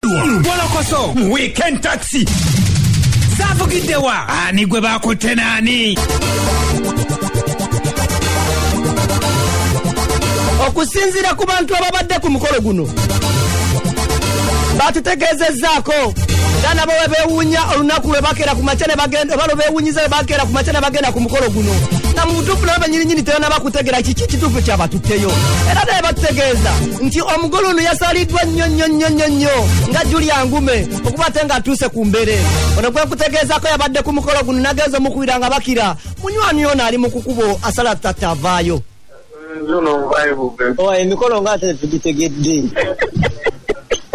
golokoso mu weekend taxi zavugiddewa ani gwe bakutte naani okusinziira ku bantu ababadde ku mukolo guno batutegeezezzaako nga nabo bwe beewuunya olunaku lwe bakeera ku makya oba lwe beewunyiza lwe bakeera ku makya ne bagenda ku mukolo guno nga mu butuufu nabo banyininyini tebanaba kutegeera kiki kituufu kyabatutteyo era naye batutegeeza nti omugole ono yasaliddwa nnyo nnyo nnyo nnyo nnyo nga julia ngume okuba ate nga atuuse ku mbere ono gwekutegeezako yabadde ku mukolo guno nagenza omukubira nga bakira munywani ono ali mu kukubo asala tatta avaayo oh, emikolo nga ate tugitegedde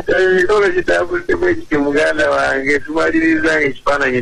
emikolo gitambudde bwekiti muganda wange tumaliriza nga ekifaananyi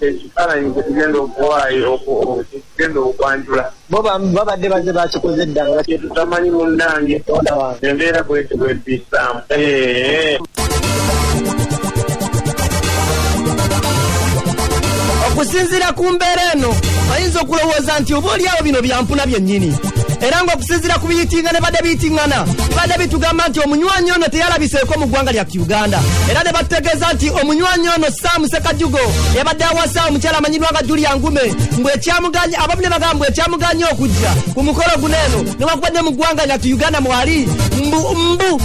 ekifaananyi kye tugenda okuwaayo okugenda okwanjula bo babadde baze bakikoze dda nga kyetutamanyi munnange embeera bweti bwebisaamu okusinziira ku mbeera eno ayinza okulowooza nti oba olyawo bino byampuna byennyini era ng'okusinziira ku biyitingana badde biyitingana badde bitugamba nti omunywanyi ono teyalabiseeko mu ggwanga lya uganda era ne bategeeza nti omunywanyi ono sam sekajugo yabadde awasa omukyala amanyiddwa nga julia ngume mbu ekyamuganya abamu ne bagamba mbu ekyamuganya okujja ku mukolo guno eno newakubadde mu ggwanga lyatu uganda mwali mbu mbu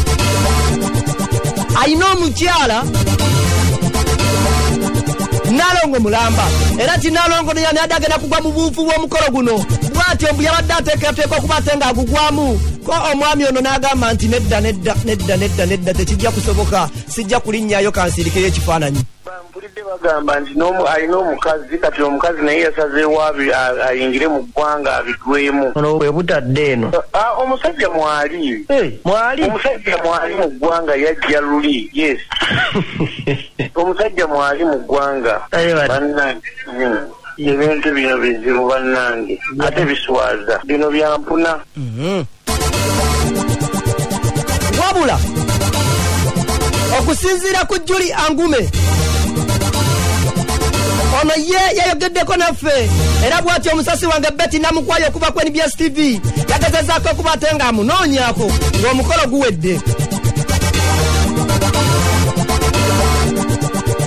alina omukyala nalongo mulamba era ti nalongo no yani adagenda kugwa mu buufu bw'omukolo guno bwatyo mbu yabadde ateekateeka okuba ate ng'agugwamu ko omwami ono n'agamba nti nedda nedda nedda nedda nedda tekijja kusoboka sijja kulinnyayo kansiirikeyo ekifaananyi mpulidde bagamba nti alina omukazi kati omukazi naye yasazeewo ayingire mu ggwanga abigwemu ono bwe butadde eno omusajja mwali mwali omusajja mwali mu ggwanga yajja luli yes omusajja mwali mu ggwanga banna hmm. ebintu bino bizibu bannange ate biswaza bino byampuna mhm. wabula okusinziira ku juli angume ono ye yayogeddeko naffe era bwati omusasi wange beti namukwayo okuva ku nbs tv yagezezaako okuba ate nga amunoonyako ng'omukolo guwedde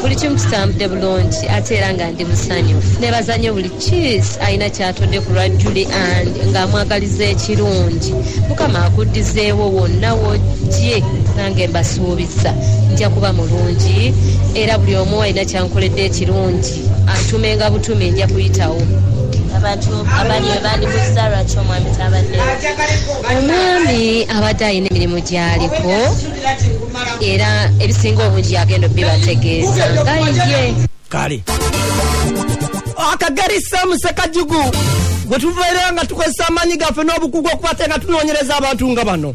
buli kimu kitambudde bulungi ate era nga ndi musanyufu nebaza nnyo buli kiis alina kyatodde ku lwa juli and ng'amwagaliza ekirungi mukama akuddizeewo wonna wojje nange mbasuubiza nja kuba mulungi era buli omu alina kyankoledde ekirungi atumenga butumi nja kuyitawo abantu abali bandibuzza lwaki omwami tabadde omwami abadde alina emirimu gyaliko era ebisinga obungi yagenda obibategeeza ngaye kale akageri samuse kajugu gwe tuvaire nga tukozesa amaanyi gaffe n'obukugu okubate nga tunoonyereza abantu nga bano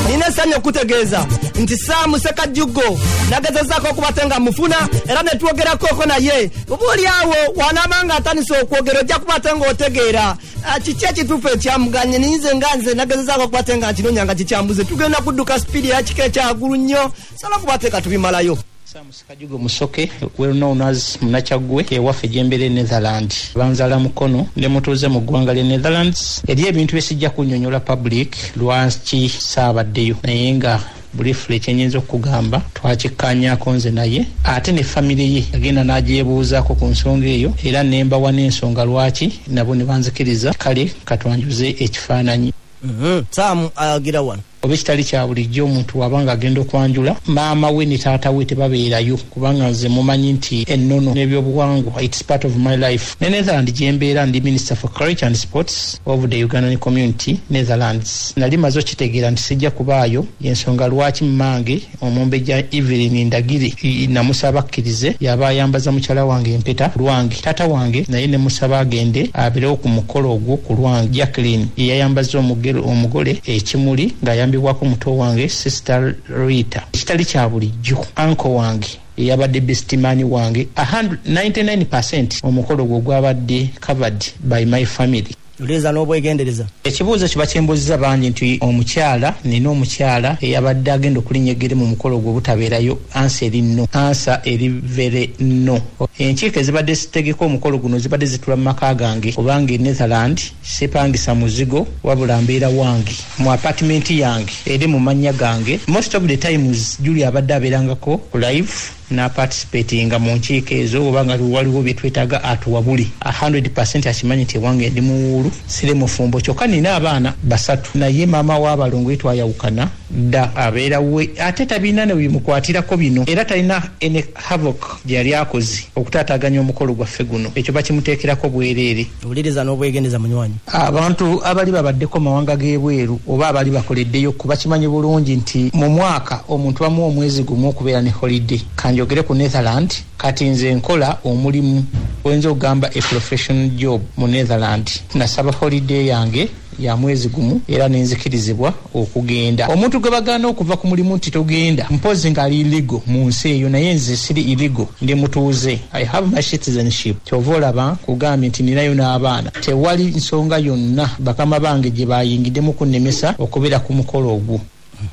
nina esanyi okutegeeza nti saamu sekajjuggo nagezezaako okubate nga mufuna era ne twogerakooko naye oba oli awo wanaaba nga atandise okwogera ojja kubate ng'otegeera Ah, kiki ekituufu ekyamuganye ninze nga nze nagezezaako okukwate nga nkinonya nga kikyambuze tugenda kudduka sipiidi eyakika ekyagulu nnyo sobola okubateeka tubimalayo samusikajugo musoke well known as munakyaggwe ewaffe gyembeera e netherland banzala mukono ne mutuuze mu ggwanga lye netherlands eri ebintu bye sijja kunyonyola public lwaki saabaddeyo naye nga bulifule kyenyinza okugamba twakikkaanyaako nze naye ate ne famire ye agenda n'agyebuuzaako ku nsonga eyo era nembawa n'ensonga lwaki nabo ne banzikiriza kale katwanjuze ekifaananyi mhm. saamu agira wano oba ekitali kya bulijjo omuntu waba nga agenda okwanjula maama we ne taata we tebabeerayo kubanga nze mumanyi nti ennono n'ebyobuwangwa its part of my life ne netherland gyembeera ndi minister for courage and sports of the Ugandan community Netherlands. Nali mazo kitegera nti sijja kubaayo yensonga lwaki mmange omumbejja Evelyn Ndagire namusaba akkirize yaba ayambaza mukyala wange empeta lwange taata wange naye ne musaba agende aberewo ku mukolo ogwo ku lwange Jacqueline yeyayambaza omugole ekimuli ng'ayambibwako muto wange sister Rita ekitali kya bulijjo anko wange eyabadde bestimani wange 99 omukolo gwo gwabadde covered by my family leza n'obwegendereza ekibuuzo kiba kyembuziza bangi nti omukyala nina omukyala eyabadde agenda okulinya eggere mu mukolo ogwo obutabeerayo ansa eri no ansa eri vere no enkiiko ezibadde zitegeka omukolo guno zibadde zitula mu maka gange kubanga e netherland sipangisa muzigo wabula mbeera wange mu apartment yange eri mu mannya gange most of the times juli abadde abeerangako ku live naparticipatinga mu nkiiko ezo oba nga waliwo byetwetaaga atuwabuli 100 akimanyi nti ewange ndi muwuulu sire mufumbo kyokka nina abaana basatu naye maama w'abalongo yetwayawukana dda abeera we ate tabirina ne bimukwatirako bino era talina ene havok gye yali akoze okutaataaganya omukolo gwaffe guno ekyo bakimuteekerako bwereere wuliriza n'obwegendeza munywanyi abantu abali babaddeko mawanga g'ebweru oba abali bakoleddeyo kuba kimanyi bulungi nti mu mwaka omuntu bamu omwezi gumu okubeera ne holiday kanjogere ku netherland kati nze nkola omulimu oyinza okugamba eprofessional job mu netherland nasaba holiday yange ya mwezi gumu era nenzikirizibwa okugenda omuntu gwe bagaana okuva ku mulimu nti togenda mpozi ngaali iligo mu nsi eyo naye nze siri iligo ndi mutuuze i have my citizenship kyova olaba kugambye nti ninayo n'abaana tewali nsonga yonna bakama bange gye bayingidemu kunnemesa okubeera ku mukolo ogwo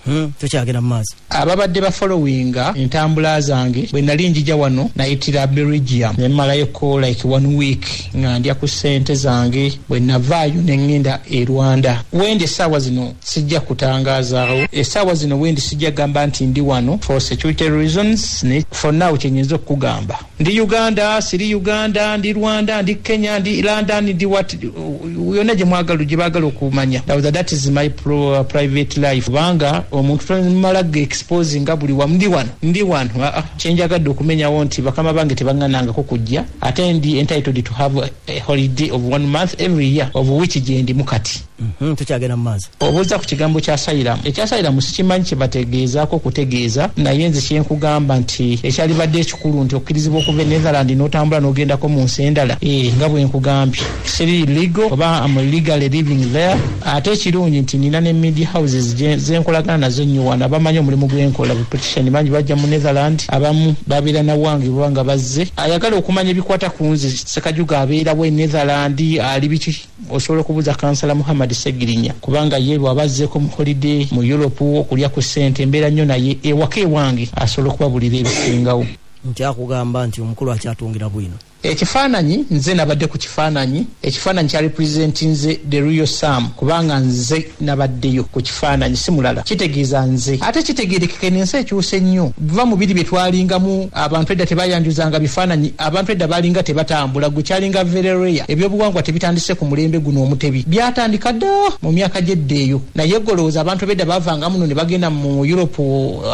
Mhm. tukyagenda mu maaso ababadde bafolowinga entambula zange bwe nali njija wano nayitira belgium ne malayoko like one week nga ndya ku ssente zange bwe navaayo ne ŋŋenda e rwanda wendi essaawa zino sijja kutangazaawo essaawa zino wendi sijja gamba nti ndi wano for security reasons ne for now kyenyinza okukugamba Ndi Uganda, siri Uganda, ndi Rwanda, ndi Kenya, ndi London, ndi what yona gye mwagala gye bagala okumanya. Now that, that is my pro, uh, private life. Banga omuntu tomala ge exposing nga buli wamu ndi wano ndi wano uh, ah, ah. kyenjagadde okumenyawo nti bakama bange tebaŋŋanangako kujja ate ndi entitled to have a holiday of one month every year of which gye ndimu kati. Mhm, tukyagenda mu maaso obuuza ku kigambo kya sayiramu ekya sayiramu sikimanyi kyebategeezaako okutegeeza naye nze kyenkugamba nti ekyalibadde ekikulu nti okkirizibwa okuva e netherland n'otambula n'ogendako mu nsi endala eh, nga bwenkugambye siri ligo oba am legally living there ate ekirungi nti nina ne media houses zenkolagana nazo nnyo wano abamanyi omulimu gwenkola bupetition bangi bajja mu netherland abamu babeera nawange baba nga bazze ayagala okumanya ebikwata ku nze sekajuga abeerawo e netherland ali biki osobola okubuuza kansala muhammad segirinya kubanga ye lwaba azzeeko mu holiday mu europe okulya ku ssente mbeera nnyo naye ewaka ewange asobola okubabulira ebisingawo nkyakugamba nti omukulu akyatungira bwino ekifaananyi nze nabadde ku kifaananyi ekifaananyi kya representinze the real sam kubanga nze nabaddeyo ku kifaananyi si mulala kitegeeza nze ate kitegeerekeka eno ensi ekyusa ennyo va mu biri bye twalingamu abantu edda tebayanjuzanga bifaananyi abantu edda balinga tebatambula gwe kyalinga verereya ebyobuwangwa tebitandise ku mulembe guno omutebi byatandika dda mu myaka gyedda eyo naye golowooza abantu bedda bavanga muno ne bagenda mu europe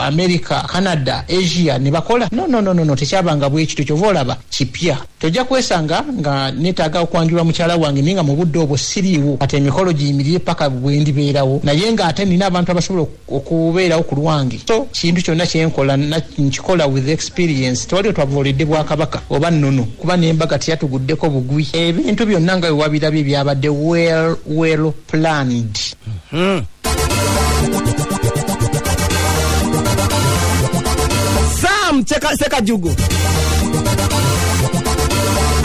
america canada asia ne bakola nonononono tekyabanga bwekityo kyova olaba kipya tojja kwesanga nga netaaga okwanjulwa mukyala wange naye nga mu budde obwo siriiwo kati emikolo giyimirire paka bwendibeerawo naye nga ate nina abantu abasobola okubeerawo ku lwange so kintu kyonna kyenkola nkikola with experience tewali otwavoolidde bwakabaka oba nnono kuba nembaga teyatuguddeko bugwi ebintu byonna nga wewabirabye byabadde well well planned Hmm. sam Cheka- sekajugo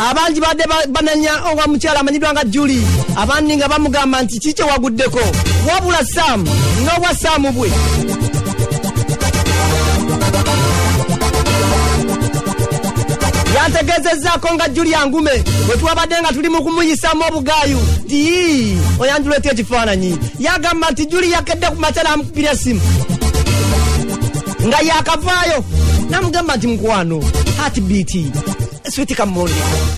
abangi badde ba- banenya owa mukyala amanyiddwa nga juli abandi nga bamugamba nti kiki waguddeko wabula sam n'obwa sam bwe yantegeezezzaako nga juli angume bwe twabadde nga tuli mu kumuyisamu obu gayu ii oyandireeta ekifaananyi yagamba nti juli yakedde ku makya namukubira esimu nga yakavaayo namugamba nti mukwano hatibiti switi kamondi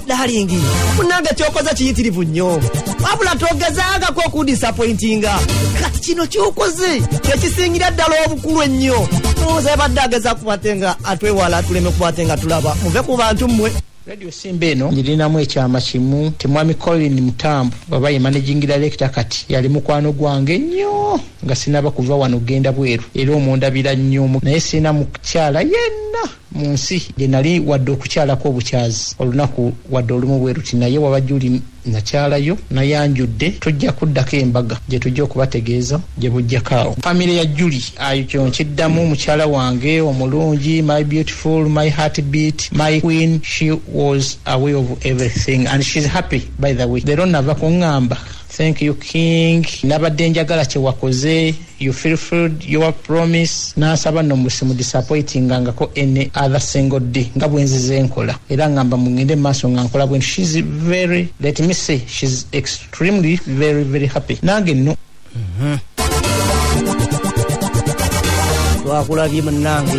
dalingi munange kyokoza kiyitirivu nnyo wabula togezangako okudisapointinga kati kino kyokoze kyekisingira ddala obukulu ennyo oza badde ageza kukwate nga atwewala tuleme kukwate nga tulaba muve ku bantu mmwe Radio Simba eno ngirinamu ekyama kimu nti mwami Colin Mutambu baba ye managing director kati yali mukwano gwange nnyo nga sinaba kuva wano genda bweru era omundabira nnyo naye sirina mukukyala yenna mu nsi gye nali wadde okukyalako obukyazi olunaku wadde olumu bweruti naye waba juli nakyala yo nayanjudde tujja kuddako embaga gye tujja okubategeeza gye bujjako awo famire ya juli ayo kyo nkiddamu mukyala wange omulungi my beautiful my heart beat my queen she was away of everything and she's happy by the way lero nava kuŋŋamba thank you king nabadde njagala kyewakoze you fulfilled your promise n'asaba no musimu disappointinga ngako any other single day nga bwenzize enkola era ngamba mungende maaso nga nkola bwenti she's very let me say she's extremely very very happy nange no mm -hmm. twakulabye munange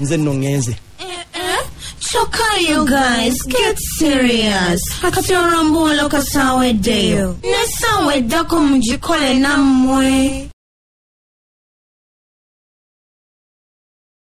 nze nno ŋŋenze kyokka you guys get serious kati olwombuulo kasaweddeyo nesaawa eddako mugikole nammwe